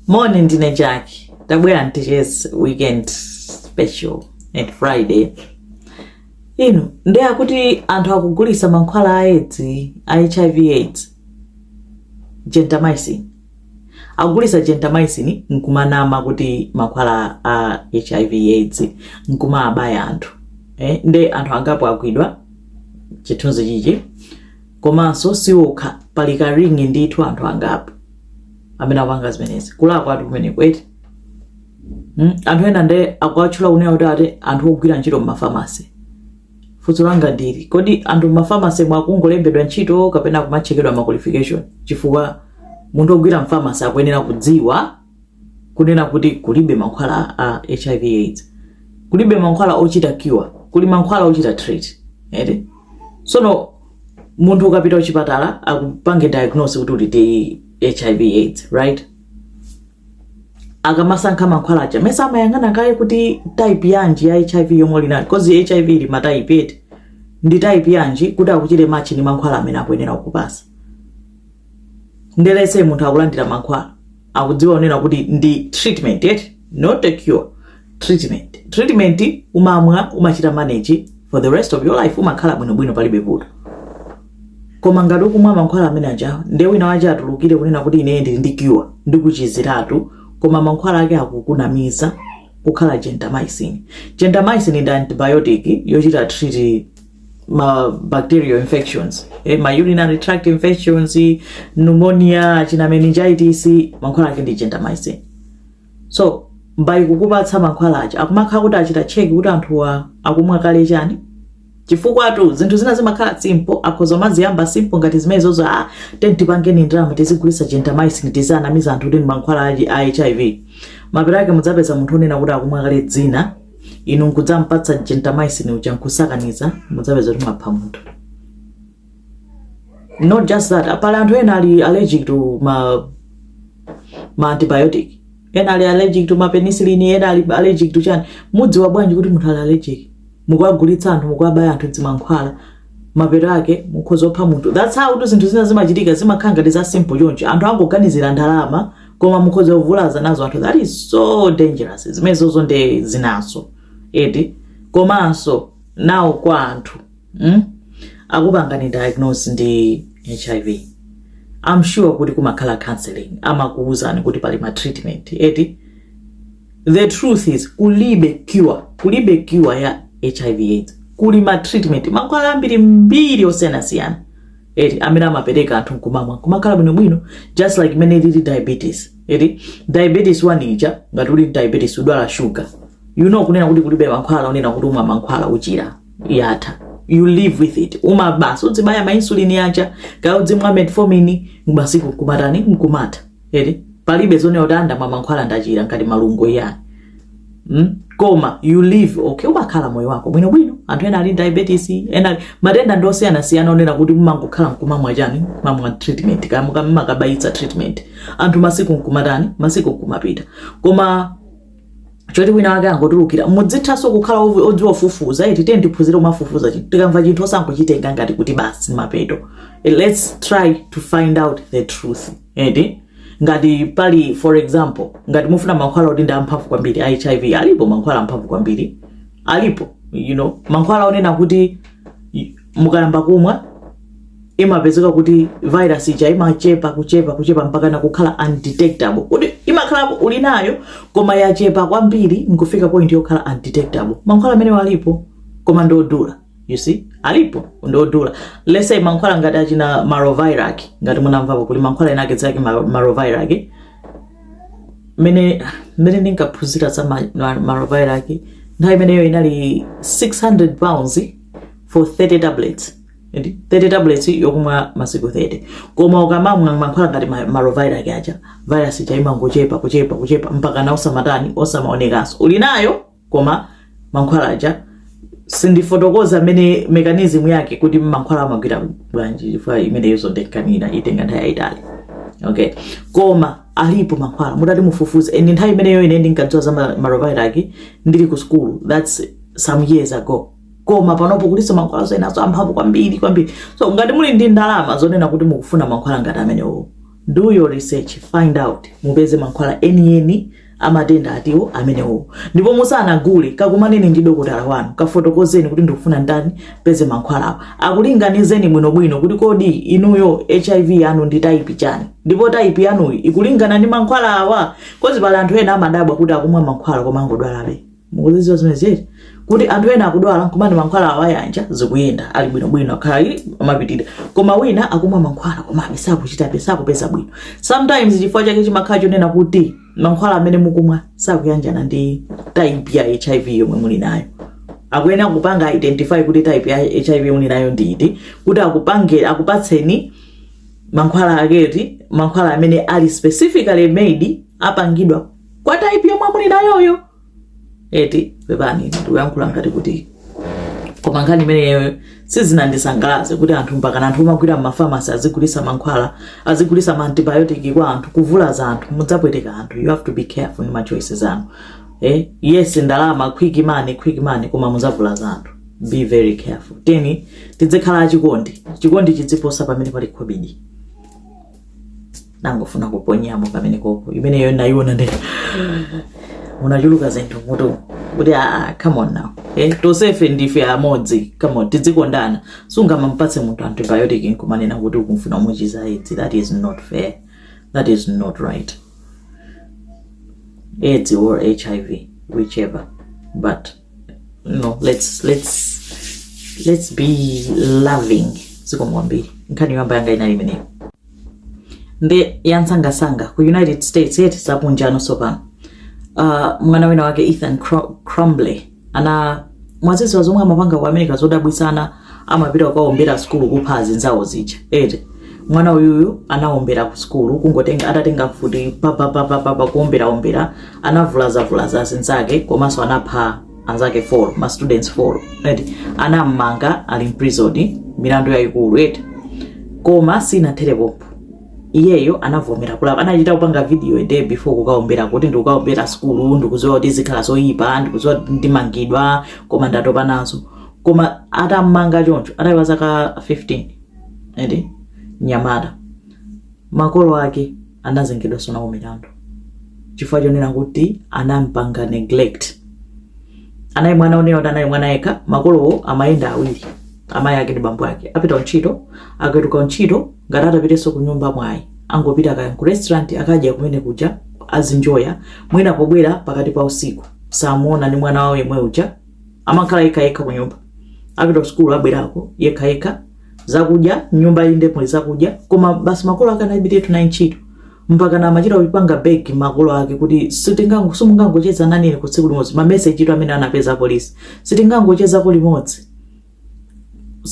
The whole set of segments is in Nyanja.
moni ndine jaki tabwera mtichezi weekend special and friday ino nde akuti anthu akugulitsa mankhwala a edzi a hiv aids gentamicin akugulitsa gentamicin nkumanama kuti mankhwala a hiv aids nkumawabaya anthu eh? ndi anthu angapo agwidwa chithunzi chichi komanso siokha pali ka ring ndithu anthu angapo amene apanga zimenezi kulakwatu kumeneko eti mm? anthu ena nde akuwatchula kunena kuti ati anthu ogwira ntchito mmafamasi funso langa ndi ili kodi anthu mmafamasi mwakungolembedwa ntchito kapena kumachekedwa ma qualification chifukwa munthu ogwira mfamasi akuyenera kudziwa kunena kuti kulibe mankhwala a hiv aids kulibe mankhwala ochita cure kuli mankhwala ochita treat eti sono munthu ukapita kuchipatala akupange diagnose kuti uli ndi hiv aids right akamasankha mankhwala aja mesa amayang'ana kaye kuti type yanji ya hiv yomwe uli nayo because hiv ili matype eti ndi type yanji kuti akuchite match ndi mankhwala amene akuyenera kukupasa nde let's say munthu akulandira mankhwala akudziwa kunena kuti ndi treatment eti not a cure treatment treatment umamwa umachita manage for the rest of your life umakhala bwinobwino palibe vuto koma ngati ukumwa mankhwala amene aja nde wina wake atulukire kunena kuti ine ndili ndi cure ndikuchiziratu koma mankhwala ake akukunamiza kukhala gentamicin gentamicin ndi antibiotic yochita treat ma bacterial infections eh, ma urinary tract infections pneumonia achina meningitis mankhwala ake ndi gentamicin so before kukupatsa mankhwala aja akumakhala kuti achita check kuti anthuwa akumwa kale chani chifukwatu zinthu zina zimakhala simple akhoza kumaziyamba simple ngati zimenezozo tiyeni tipangeni ndalama tizigulitsa gentamicin tiziwanamiza anthu kuti ndi mankhwala a hiv mapeto ake mudzapeza munthu onena kuti akumwa kale zina inu nkudzampatsa gentamicin uja nkusakaniza mudzapeza kuti mwapha munthu not just that pali anthu ena ali allergic to ma, ma antibiotic ena ali allergic to mapenicillin ena ali allergic to chani mudziwa bwanji kuti munthu ali allergic mukuwagulitsa anthu mukuwabaya anthu zimankhwala mapeto ake mukhoza kupha munthu that's how kuti zinthu zina zimachitika zimakhala ngati za simple choncho anthu angoganizira ndalama koma mukhoza kuvulaza nazo anthu that is so dangerous zimenezozo nde zinanso eti komanso nawo kwa anthu mm? akupangani diagnose ndi hiv i'm sure kuti kumakhala counseling amakuwuzani kuti pali ma treatment eti the truth is kulibe cure kulibe cure ya hiv aids kuli ma treatment mankhwala ambirimbiri osiyanasiyana eti amene amapereka anthu nkumamwa kumakhala bwinobwino just like imene ilili diabetes eti diabetes one ija ngati uli diabetes udwala shuga you know kunena kuti kulibe mankhwala onena kuti umwa mankhwala uchira yatha you live with it uma basi udzibaya mainsulini yaja kaya udzimwa metformin masiku nkumatani nkumatha eti palibe zonena kuti ndamwa mankhwala ndachira ngati malungo iyani mm? koma you live okay umakhala moyo wako bwinobwino anthu ena ali diabetes ena matenda ndi osiyanasiyana onena kuti mumangokhala mkumamwa chani mumamwa treatment kaya mumakabayitsa treatment anthu masiku nkumatani masiku nkumapita koma choti wina wake angotulukira muzithanso kukhala ovu- odziwa kufufuza eti tiyeni tiphunzire kumafufuza chi- tikamva chinthu osangochitenga ngati kuti basi mapeto Eh, let's try to find out the truth eti ngati pali for example ngati mufuna mankhwala oti ndi amphamvu kwambiri a hiv alipo mankhwala amphamvu kwambiri alipo you know mankhwala onena kuti mukayamba kumwa imapezeka kuti virus ija imachepa kuchepa kuchepa mpaka nakukhala undetectable kuti imakhalapo uli nayo koma yachepa kwambiri nkufika point yokhala undetectable mankhwala amenewo alipo koma ndiodula you see alipo ndiodula let's say mankhwala ngati achina maraviroc ngati munamvapo kuli mankhwala ena ake dzina lake mara- maraviroc mene mene ndinkaphunzira za ma- ma- maraviroc nthawi imeneyo inali 600 pounds for 30 tablets and 30 tablets yokumwa masiku 30 koma ukamamwa mankhwala ngati ma- maraviroc aja virus ija imangochepa kuchepa kuchepa mpakana osamatani osamaonekanso uli nayo koma mankhwala aja sindifotokoza mmene mechanism yake kuti mankhwala amagwira bwanji chifukwa imeneyo izo ndikanena itenga nthawi yayitali okay koma alipo mankhwala mutati mufufuze and nthawi imeneyo ine ndinkadziwa za ma- maraviroc ndili ku school that's some years ago koma panopo kulinso mankhwala enanso amphamvu kwambiri kwambiri so ngati muli ndi ndalama zonena kuti mukufuna mankhwala ngati amenewo do your research find out mupeze mankhwala enieni amatenda atiwa amenewo ndipo musanagule kakumaneni ndi dokotala wanu kafotokozeni kuti ndikufuna ndanipeze mankhwalawo akulinganizeni bwinobwino kuti kodi inuyo hiv yanu ndi type chani ndipo type yanuyi ikulingana ndi mankhwala awa coz pali anthu ena amadabwa kuti akumwa mankhwala koma angodwalabe mukuzidziwa zimenezi eti kuti anthu ena akudwala akumwa mankhwala awayanja zikuyenda ali bwinobwino akhala akumapitira koma wina akumwa mankhwala koma be sakuchitabe sakupeza bwino sometimes chifukwa chake chimakhala chonena kuti mankhwala amene mukumwa sakuyanjana ndi type ya hiv yomwe muli nayo akuyenera kupanga identify kuti type ya hiv muli nayo ndi iti kuti akupange akupatseni mankhwala ake eti mankhwala amene ali specifically made apangidwa kwa type yomwe muli nayoyo eti pepani ndikuyankhula ngati kuti koma nkhani imeneyo sizinandisangalatse kuti anthu mpakana anthu omagwira m'mafamasi azigulisa mankhwala azigulisa maantibiotic kwa anthu kuvulaza anthu mudzapweteka anthu you have to be careful ndi machoices anu eti? yes ndalama quick money quick money koma mudzavulaza anthu be very careful teni tidzikhala achikondi chikondi chidziposa pamene pali khobidi ndangofuna kuponyamo kamene koko imeneyo nditaiona nde munachuluka zinthu m'mutu kuti aa come on now eh, tosefe ndife amodzi come on tidzikondana sungamampatse munthu antibiotic nkumanena kuti ukufuna kumuchiza aids that is not fair that is not right aids or hiv whichever but no let's let's let's be loving zikomo kwambiri nkhani yoyamba yanga inali imeneyo ndi yansangasanga ku united states eti zakunjano sopano uh, mwana wina wake ethan Crumbley ana mwaziziwa zomwe amapanga ku america zodabwitsazi amapita kukaombera kusukulu kupha azinzawo zija eti mwana uyuyu anaombera ku sukulu kungotenga atatenga mfuti papapapapapa kuomberaombera anavulazavulaza azinzake komanso anapha anzake folo ma students folo eti anammanga ali m'prison milandu yayikulu eti koma sinathere pompo iyeyo anavomera kulapa anachita kupanga video a day before kukaombera kuti ndikukaombera sukulu ndikuziwa kuti zikhala zoyipa ndikuziwa kuti ndimangidwa koma ndatopa nazo koma atammanga choncho atali wa zaka 15 eti nyamata makolo ake anazengedwanso nawo milandu chifukwa chonena kuti anampanga neglect anali mwana onena kuti anali mwana yekha makolowo amayenda awiri amayi ake ndi bambo ake apita ntchito akatuluka ntchito ngati atapitenso ku nyumba ayi angopita kaya ku restaurant akadya kumene kuja azinjoya mwina pobwera pakati pa usiku samuona ndi mwana wawo yemwe uja amakhala yekha yekha ku nyumba apita sukulu abwerako yekha yekha zakudya m'nyumba inde muli zakudya koma basi makolo ake anali bize ndi ntchito mpaka na amachita kupanga beg makolo ake kuti sitingango simungangocheza nanine ko tsiku limodzi mamesejitu amene anapeza polisi sitingangochezako limodzi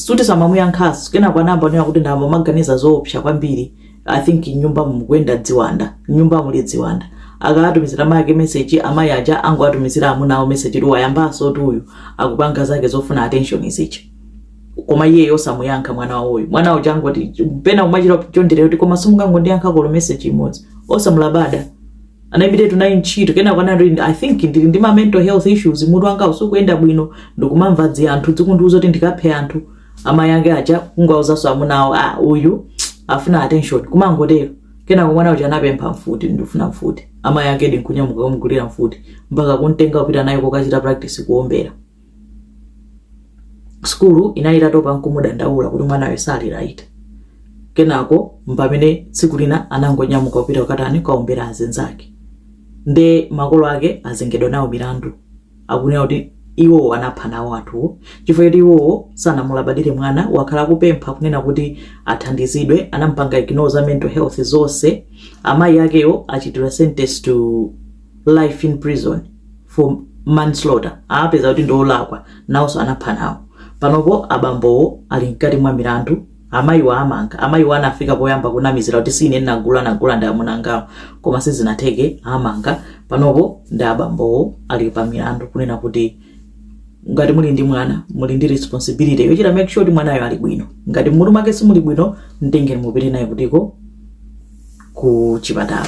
akuti samamuyankhanso kenako anayamba kunena kuti ndayamba kumaganiza zoopsa kwambiri i think m'nyumba mukuyenda dziwanda m'nyumba muli dziwanda akawatumizira amayi ake meseji amayi aja angowatumizira amuna awo meseji kuti wayambansotu uyu akupanga zake zofuna attention izichi koma iyeyo osamuyankha mwana wawoyo mwana uja angoti pena amachita chonderera kuti koma simungangondiyankhako olo meseji imodzi osamulabada anaimbiratu naye ntchito kenako anati i think ndili ndi ma mental health issues mutu wanga usukuyenda bwino ndikumamva dzi anthu dzikundiuza kuti ndikaphe anthu amayi ake aja kungowauzanso amuna awo a uyu afuna attention kumangotero kenako mwana uja anapempha mfuti ndifuna mfuti amayi ake ndikunyamuka kumgulira mfuti mpaka kumtenga kupita naye kokachita practice kuombera sukulu inali itatopa nkumudandaula kuti mwanayo sali right kenako mpamene tsiku lina anangonyamuka kupita kukatani kukaombera anzake nde makolo ake azengedwa nawo mlandu akunena kuti iwowo anapha nawo anthuwo chifukwa choti iwowo sanamulabadire mwana wakhala akupempha kunena kuti athandizidwe anampanga ignore za mental health zonse amayi akewo achitidwa sentence to life in prison for manslaughter apeza kuti ndiolakwa nawonso anapha nawo panopo abambowo ali mkati mwa mlandu amayiwa amanga amayiwa anafika poyamba kunamizira kuti si ine ndagula agula ndi amunangawo koma sizinatheke amanga panopo ndi abambowo ali pa mlandu kunena kuti ngati muli ndi mwana muli ndi responsibility yochita make sure kuti mwanayo ali bwino ngati mmutu mwake simuli bwino mtengeni mupite naye kutiko ku chipatala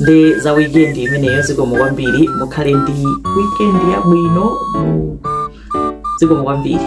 ndi za weekend imeneyo zikomo kwambiri mukhale ndi weekend yabwino mu- zikomo kwambiri